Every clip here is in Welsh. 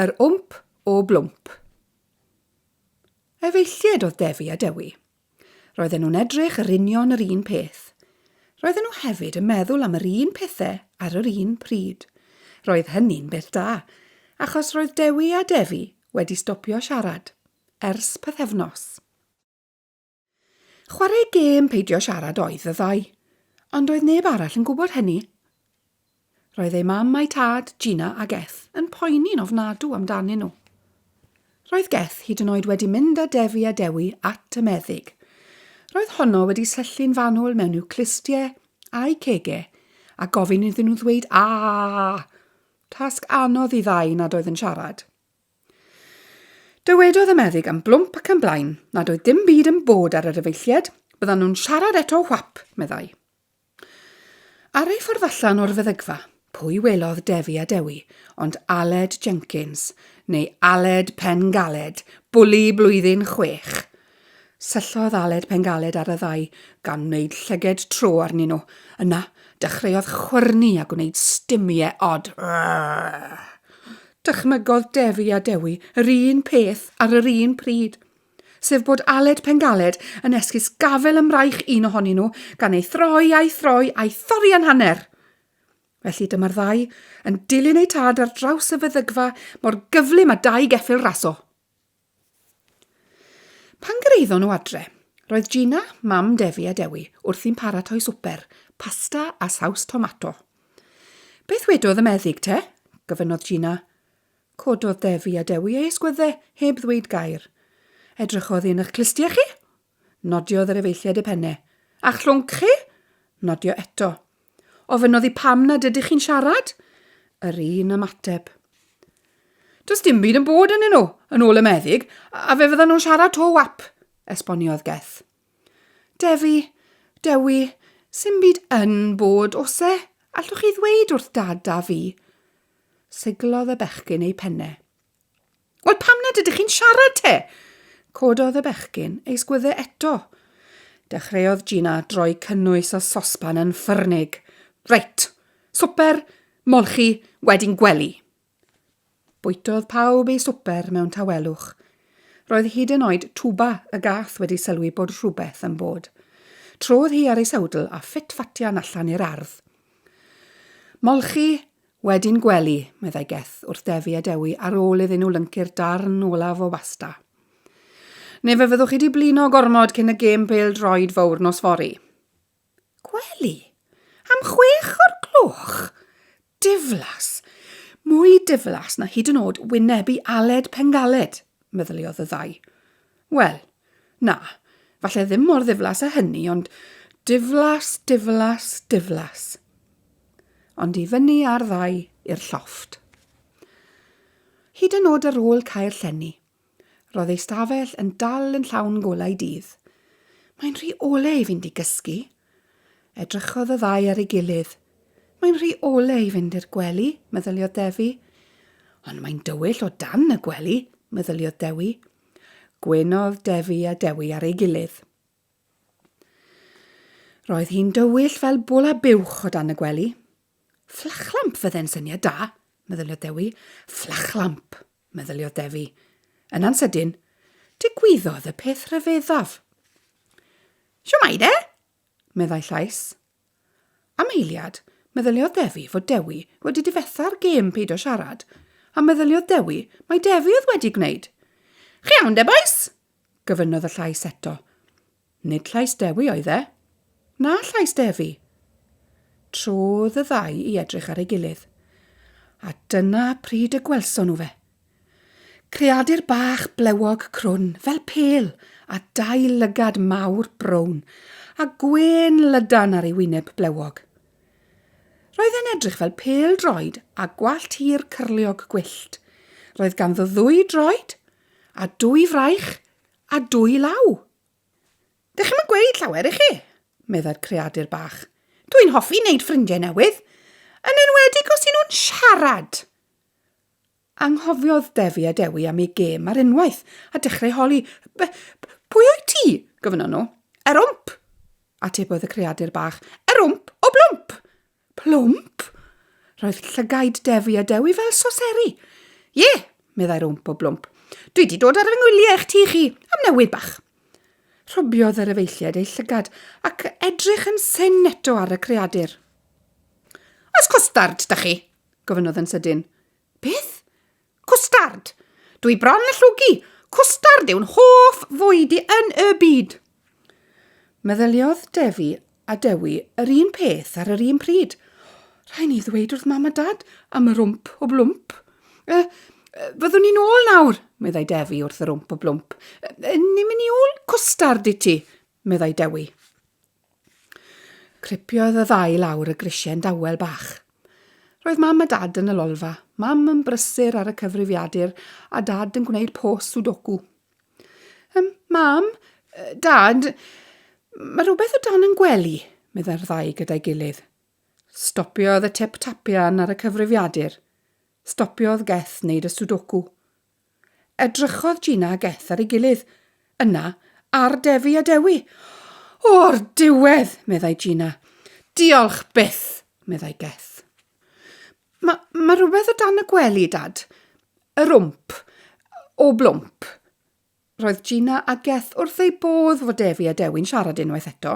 Yr wmp o blwmp. Efeillied oedd Defi a Dewi. Roedden nhw'n edrych yr union yr un peth. Roedden nhw hefyd yn meddwl am yr un pethau ar yr un pryd. Roedd hynny'n beth da, achos roedd Dewi a Defi wedi stopio siarad ers pythefnos. Chwarae gêm peidio siarad oedd y ddau, ond doedd neb arall yn gwybod hynny. Roedd eu mam a'i tad, Gina a Geth, yn poeni'n ofnadw amdanyn nhw. Roedd Geth hyd yn oed wedi mynd â Defi a Dewi at y meddyg. Roedd honno wedi syllu'n fanwl mewn i'w clustie a'i cege a gofyn iddyn nhw ddweud aa! Tasg anodd i ddau nad oedd yn siarad. Dywedodd y meddyg am blwmp ac am blaen nad oedd dim byd yn bod ar yr efeilliad, byddan nhw'n siarad eto whap, meddai. Ar ei ffordd allan o'r feddygfa, pwy welodd Defi a Dewi ond Aled Jenkins, neu Aled Pen Galed, bwli blwyddyn chwech. Syllodd Aled Pengaled ar y ddau, gan wneud llyged tro arnyn nhw. Yna, dechreuodd chwyrnu a gwneud stumiau od. Dychmygodd Defi a Dewi yr un peth ar yr un pryd, sef bod Aled Pengaled yn esgus gafel ym mraich un ohonyn nhw, gan ei throi a'i throi a'i thorri yn hanner! Felly dyma'r ddau yn dilyn eu tad ar draws y feddygfa mor gyflym a dau geffyl raso. Pan gyrhaeddon nhw adre, roedd Gina, mam Defi a Dewi, wrthi'n paratoi swper, pasta a saws tomato. Beth wedodd y meddyg te? gofynnodd Gina. Cododd Defi a Dewi eu ysgwyddau heb ddweud gair. Edrychodd un o'ch clustie chi? Nodiodd yr efeilliaid y penne. A chlwnc chi? Nodio eto. Ofynnodd i pam nad ydych chi'n siarad? Yr un ymateb. Does dim byd yn bod yn nhw, yn ôl y meddyg, a fe fyddan nhw'n siarad to wap, esboniodd Geth. Defi, Dewi, sy'n byd yn bod, os e? Allwch chi ddweud wrth dad a fi? Siglodd y bechgyn ei penne. Wel, pam nad ydych chi'n siarad te? Cododd y bechgyn ei sgwydde eto. Dechreuodd Gina droi cynnwys o sosban yn ffyrnig. Reit, swper, molchi, wedyn gwely. Bwytodd pawb ei swper mewn tawelwch. Roedd hyd yn oed Tuba y gath wedi sylwi bod rhywbeth yn bod. Trodd hi ar ei sawdl a ffit-fatian allan i'r ardd. Molchi, Wedyn gwely, meddai Geth, wrth Defi a Dewi ar ôl iddyn nhw lyncu'r darn olaf o basta. Neu fe fyddwch chi wedi blino gormod cyn y gêm bêl droed fawr nos fori. Gwely? Am chwech o'r gloch? Diflas! Mwy diflas na hyd yn oed wynebu Aled Pengaled, meddyliodd y ddau. Wel, na, falle ddim mor ddiflas â hynny, ond diflas, diflas, diflas. Ond i fyny ar ddau i'r llofft. Hyd yn oed ar ôl cael llenni, roedd ei stafell yn dal yn llawn golau dydd. Mae'n rhy ole i fynd i gysgu. Edrychodd y ddau ar ei gilydd. Mae'n rhy ole i fynd i'r gwely, meddyliodd Defi. Ond mae'n dywyll o dan y gwely, meddyliodd Dewi. Gwynodd Defi a Dewi ar ei gilydd. Roedd hi'n dywyll fel bwla buwch o dan y gwely. Fflachlamp fydde'n syniad da, meddyliodd Dewi. Fflachlamp, meddyliodd Defi. Yna'n sydyn, digwyddodd y peth rhyfeddaf. Siwmai de, meddai llais. Am eiliad, meddyliodd Defi fod Dewi wedi difetha'r gêm peidio siarad, a meddyliodd Dewi mai Defi oedd wedi gwneud. Chi iawn de, bois? gofynnodd y llais eto. Nid llais Dewi oedd e. Na llais Defi. Trodd y ddau i edrych ar ei gilydd. A dyna pryd y gwelson nhw fe. Creadur bach blewog crwn fel pêl a dau lygad mawr brown a gwên lydan ar ei wyneb blewog. Roedd e'n edrych fel pêl droed a gwallt hir cyrliog gwyllt. Roedd ganddo ddwy droed, a dwy fraich, a dwy law. Dych chi'm yn gweud llawer i chi, meddai'r creadur bach. Dwi'n hoffi wneud ffrindiau newydd, yn enwedig os y'n nhw'n siarad. Anghofiodd Defi a Dewi am eu gêm ar unwaith, a dechreu holi. Be, pwy wyt ti? gofynnon nhw. Erwmp! atebodd y creadur bach. Erwmp o blwmp! Plwmp? Roedd llygaid Defi a Dewi fel soseri. Ie, meddai Rwmp o blwmp. Dwi wedi dod ar fy ngwyliau eich ti chi, am newid bach. Rhobiodd yr efeilliaid ei llygad ac edrych yn syn eto ar y creadur. Os costard, da chi, gofynnodd yn sydyn. Beth? Cwstard! Dw i bron yn llwgu! Cwstard yw'n hoff fwyd i yn y byd! Meddyliodd Defi a Dewi yr un peth ar yr un pryd. Rhaid ni ddweud wrth mam a dad am yr wmp o blwmp. E, fyddwn ni'n ôl nawr, meddai Defi wrth yr wmp o blwmp. E, ni'n mynd i ôl cwstard i ti, meddai Dewi. Cripiodd y ddau lawr y grisiau'n dawel bach. Roedd Mam a Dad yn y lolfa, Mam yn brysur ar y cyfrifiadur a Dad yn gwneud pos sudoku. Ym, Mam, Dad, mae rhywbeth o dan yn gwely, meddai'r ddau gyda'i gilydd. Stopiodd y tip-tapian ar y cyfrifiadur. Stopiodd Geth wneud y sudoku. Edrychodd Gina a Geth ar ei gilydd. Yna, ar Defi a Dewi. O, o'r diwedd! meddai Gina. Diolch byth! meddai Geth. Mae ma rhywbeth o dan y gwely, Dad. Yr wmp. O blwmp. Roedd Gina a Geth wrth eu bodd fod Defi a Dewi'n siarad unwaith eto.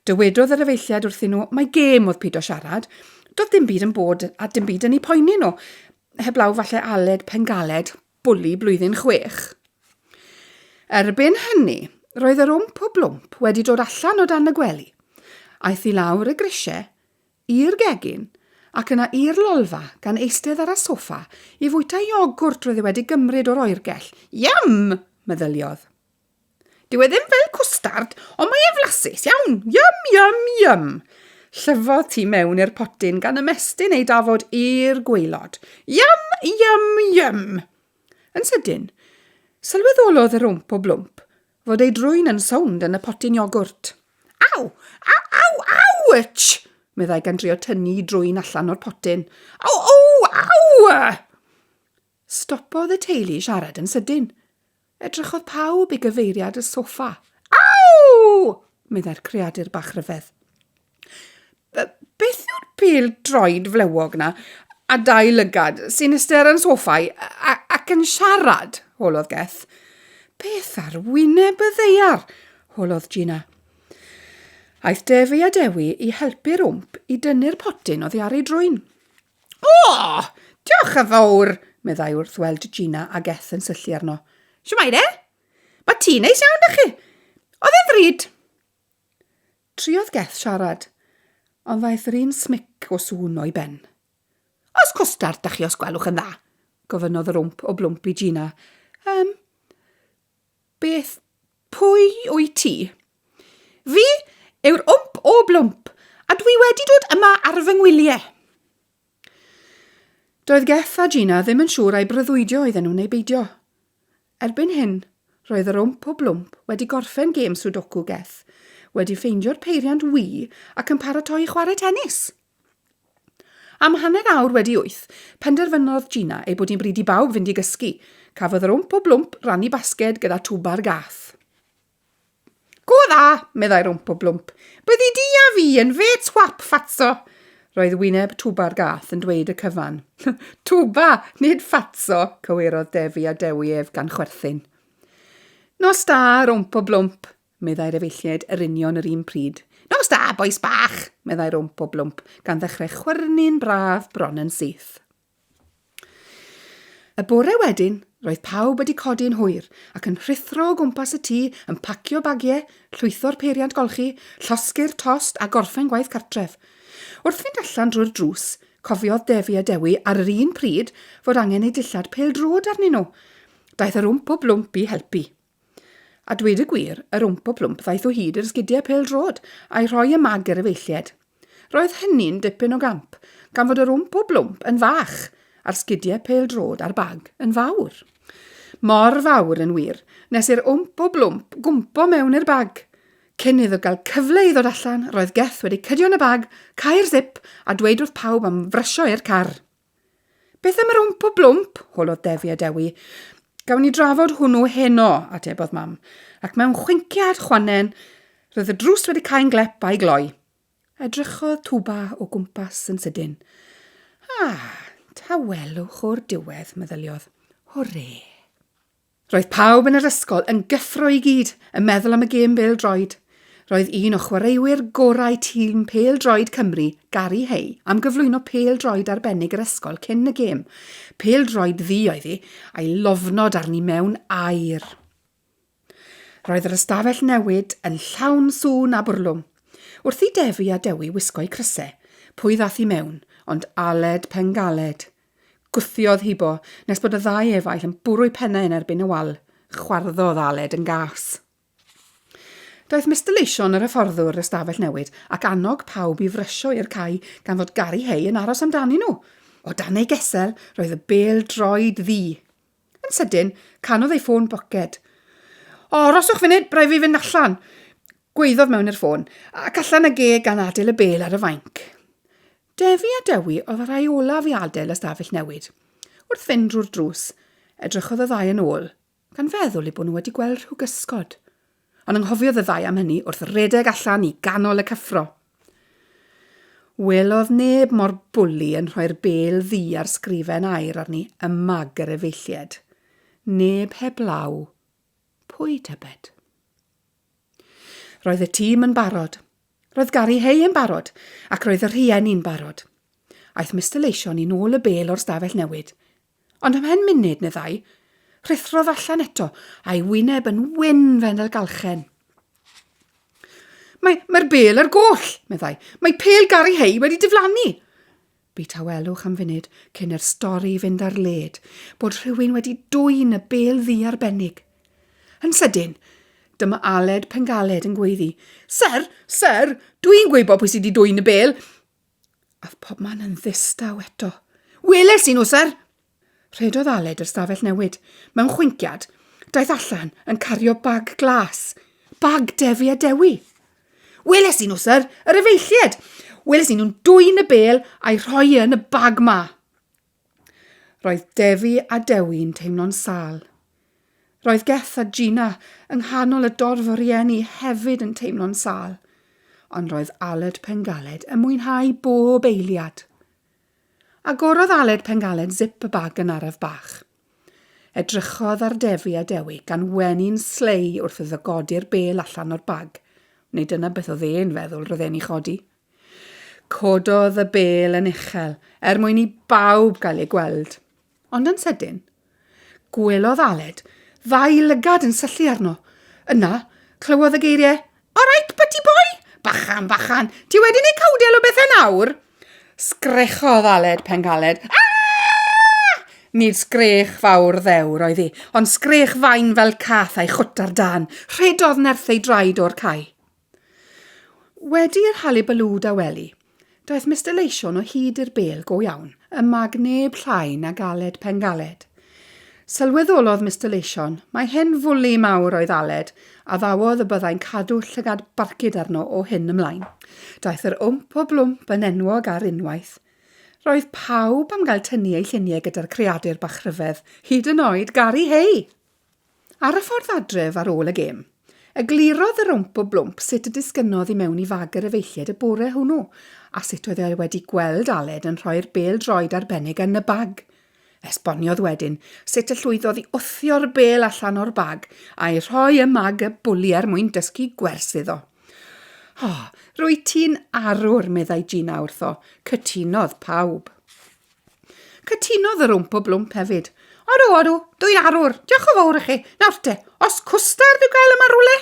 Dywedodd yr efeilliad wrthyn nhw mai gêm oedd pido siarad. Doedd dim byd yn bod a dim byd yn eu poeni nhw. Heblaw falle Aled Pengaled, bwli blwyddyn chwech. Erbyn hynny, roedd yr wmp o blwmp wedi dod allan o dan y gwely. Aeth i lawr y grisiau i'r gegin, ac yna i'r lolfa gan eistedd ar y soffa i fwyta iogwrt roedd e wedi gymryd o'r oergell. Yum! meddyliodd. Dyw e ddim fel cwstard, ond mae e'n flasus iawn. Yum, yum, yum! Llyfodd tu mewn i'r potyn gan ymestyn ei dafod i'r gweilod. Yum, yum, yum! Yn sydyn, sylweddolodd yr wmp o blwmp Fod ei drwyn yn sownd yn y potyn iogwrt. Aw! Aw! Aw! Awch! meddai gan drio tynnu drwyn allan o'r potyn. Aw! Aw! Aw! Stopodd y teulu siarad yn sydyn. Edrychodd pawb i gyfeiriad y sofa. Aw! meddai'r creadur bach rhyfedd. Beth yw'r pêl droed flewog 'na, a dau lygad, sy'n iste ar y soffa i- a- a- ac yn siarad? holodd Geth. Beth ar wyneb y ddaear? holodd Gina. Aeth Defi a Dewi i helpu'r wmp i dynnu'r potyn oddi ar ei drwyn. O! Diolch yn fawr, meddai wrth weld Gina a Geth yn syllu arno. Siwmai de? Mae ti'n neis iawn, da chi. Oedd e'n ddrud? Triodd Geth siarad, ond ddaeth yr un smic o sŵn o'i ben. Oes cwstard 'da chi os gwelwch yn dda? gofynnodd yr wmp o blwmp i Gina. Yym, beth, pwy wyt ti? Fi yw'r wmp o blwmp, a dwi wedi dod yma ar fy ngwyliau. Doedd Geff a Gina ddim yn siŵr ai breuddwydio oedden nhw neu beidio. Erbyn hyn, roedd yr wmp o blwmp wedi gorffen gêm Sudoku Geff wedi ffeindio'r peiriant Wii ac yn paratoi i chwarae tenis! Am hanner awr wedi wyth, penderfynodd Gina ei bod hi'n bryd i bawb fynd i gysgu. Cafodd yr wmp o blwmp rannu basged gyda Twbar Gath. Go dda, meddai Rwmp o Blwmp. Byddi di a fi yn fe twap ffatso. Roedd wyneb Twba'r gath yn dweud y cyfan. Twba, nid ffatso, cywirodd Defi a Dewi ef gan chwerthin. Nos da, Rwmp o Blwmp, meddai'r efeilliaid yr union yr un pryd. Nos da, bois bach, meddai Rwmp o Blwmp, gan ddechrau chwyrnu'n braf bron yn syth. Y bore wedyn, roedd pawb wedi codi yn hwyr ac yn rhuthro o gwmpas y tŷ yn pacio bagiau, llwytho'r peiriant golchi, llosgi'r tost a gorffen gwaith cartref. Wrth fynd allan drwy'r drws, cofiodd Defi a Dewi ar yr un pryd fod angen eu dillad pêl-droed arnyn nhw. Daeth yr wmp o blwmp i helpu. A dweud y gwir, yr Wmpo Plwmp ddaeth o hyd i'r sgidiau pêl-droed a'i rhoi ym mag yr efeilliaid. Roedd hynny'n dipyn o gamp, gan fod yr Wmpo Blwmp yn fach a'r sgidiau pêl-droed a'r bag yn fawr. Mor fawr, yn wir, nes i'r Wmpo Blwmp gwmpo mewn i'r bag. Cyn iddo gael cyfle i ddod allan, roedd Geth wedi cydio yn y bag, cau'r sip a dweud wrth pawb am frysio i'r car. Beth am yr wmp o blwmp? holodd Defi a Dewi. Gawn ni drafod hwnnw heno, atebodd mam, ac mewn chwinciad chwannen, roedd y drws wedi cael glep a'i gloi. Edrychodd Tuba o gwmpas yn sydyn. Ah, ta welwch o'r diwedd, meddyliodd. Hwrê! Roedd pawb yn yr ysgol yn gyffro i gyd yn meddwl am y gêm bêl-droed. Roedd un o chwaraewyr gorau tîm pêl-droed Cymru, Gary Hay, am gyflwyno pêl-droed arbennig yr ysgol cyn y gêm. Pêl-droed ddu oedd hi, a'i lofnod arni mewn aer. Roedd yr ystafell newid yn llawn sŵn a bwrlwm. Wrth i Defi a Dewi wisgo'u crysau, pwy ddath i mewn ond Aled Pengaled, Gwthiodd Hibo, nes bod y ddau efaill yn bwrw'u pennau yn erbyn y wal. Chwarddodd Aled yn gas. Daeth Mister Leyshon yr hyfforddwr yr ystafell newid, ac annog pawb i frysio i'r cae gan fod Gary Hay yn aros amdanyn nhw. O dan ei gesel, roedd y bêl droed ddu. Yn sydyn, canodd ei ffôn boced. O, roswch funud, rhaid fi fynd allan! Gwaeddodd mewn i'r ffôn, ac allan ag e gan adael y bêl ar y fainc. Defi a Dewi oedd y rhai olaf i adael ystafell newid. Wrth fynd drwy'r drws, edrychodd y ddau yn ôl, gan feddwl eu bod nhw wedi gweld rhyw gysgod. Ond anghofiodd y ddau am hynny wrth redeg allan i ganol y cyffro. Welodd neb mor bwli yn rhoi'r bel ddu ar sgrifen air arni y mag yr efeilliad. Neb heblaw. Pwy, tybed? Roedd y tîm yn barod. Roedd Gary Hay yn barod, ac roedd y rhieni'n barod. Aeth Mister Leision i nôl y bêl o'r stafell newid. Ond ymhen munud neu ddau, rhuthrodd allan eto, a'i wyneb yn wyn fel y galchen. Mae, mae'r bêl ar goll, meddai. Mae pêl Gary Hay wedi diflannu. Bu tawelwch am funud cyn i'r stori fynd ar led bod rhywun wedi dwyn y bêl ddu arbennig. Yn sydyn, dyma Aled Pengaled yn gweiddi, Ser, ser, dwi'n gwybod pwy sydd wedi dwyn y bêl! Ath pobman yn ddistaw eto. Weles i nhw, ser! Rhedodd Aled i'r stafell newid. Mewn chwinciad, daeth allan yn cario bag glas. Bag Defi a Dewi! Weles i nhw, syr, yr efeillied! Weles i nhw'n dwyn y bel a'i rhoi yn y bag ma. Roedd Defi a Dewi'n teimlo'n sal. Roedd Geth a Gina yng nghanol y dorf o rieni hefyd yn teimlo'n sal, ond roedd Aled Pengaled yn mwynhau bob eiliad. Agorodd Aled Pengallen zip y bag yn araf bach. Edrychodd ar Defi a Dewi gan wenu'n slei wrth iddo godi'r bel allan o'r bag. Neu dyna beth oedd e'n feddwl roedd e'n ei chodi. Cododd y bel yn uchel, er mwyn i bawb gael ei gweld. Ond yn sydyn, gwelodd Aled ddau lygad yn syllu arno. Yna, clywodd y geiriau, All right, butty boy! Bachan, bachan, ti wedi gwneud cawdel o bethau nawr! Sgrechodd Aled pen galed. Aaah! Nid sgrech fawr ddewr oedd hi, ond sgrech fain fel cath a'i chwt ar dan. Rhedodd nerth ei draed o'r cae. Wedi i'r halibalŵ dawelu, daeth Mister Leision o hyd i'r bêl go iawn, y mag neb llai nag Aled Pengaled. Sylweddolodd Mister Leision mai hen fwli mawr oedd Aled, a ddawodd y byddai'n cadw llygad barcud arno o hyn ymlaen. Daeth yr wmp o blwmp yn enwog ar unwaith. Roedd pawb am gael tynnu eu lluniau gyda'r creadur bach rhyfedd, hyd yn oed Gari Hey! Ar y ffordd adref ar ôl y gêm, eglurodd yr Wmp o Blwmp sut y disgynnodd i mewn i fag yr efeilliaid y bore hwnnw a sut oedd e wedi gweld Aled yn rhoi'r bêl-droed arbennig yn y bag. Esboniodd wedyn sut y llwyddodd i wthio'r bêl allan o'r bag a'i rhoi ym mag y bwli er mwyn dysgu gwers iddo. Oh, rwy ti'n arwr, meddai Gina wrtho. Cytunodd pawb. Cytunodd yr Wmpo Blwmp hefyd. Odw, odw, dwy arwr, diolch o fawr i chi. Nawr te, os cwstard i'w gael yma rwle?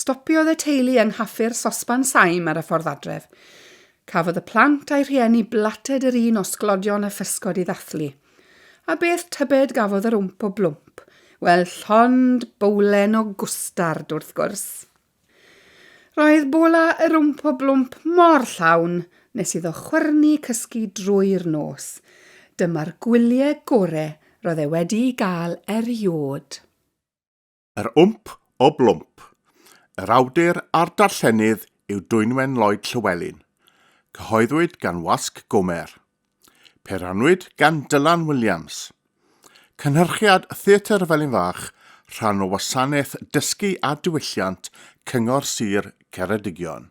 Stopiodd y teulu yng nghaffi'r sosban saim ar y ffordd adref. Cafodd y plant a'i rhieni blated yr un o sglodion a physgod i ddathlu. A beth tybed gafodd yr wmp o blwmp? Wel, llond bowlen o gwstard, wrth gwrs. Roedd bola yr wmp o blwmp mor llawn nes iddo chwyrnu cysgu drwy'r nos. Dyma'r gwyliau gore roedd e wedi'u gael eriôd. Yr Wmp o Blwmp. Yr awdur a'r darllenydd yw Dwynwen Lloyd Llywelyn. Cyhoeddwyd gan Wasg Gwmer. Pe rhannwyd gan Dylan Williams. Cynhyrchiad Theatr Felin Fach, rhan o Wasanaeth Dysgu a Diwylliant Cyngor Sir Ceredigion.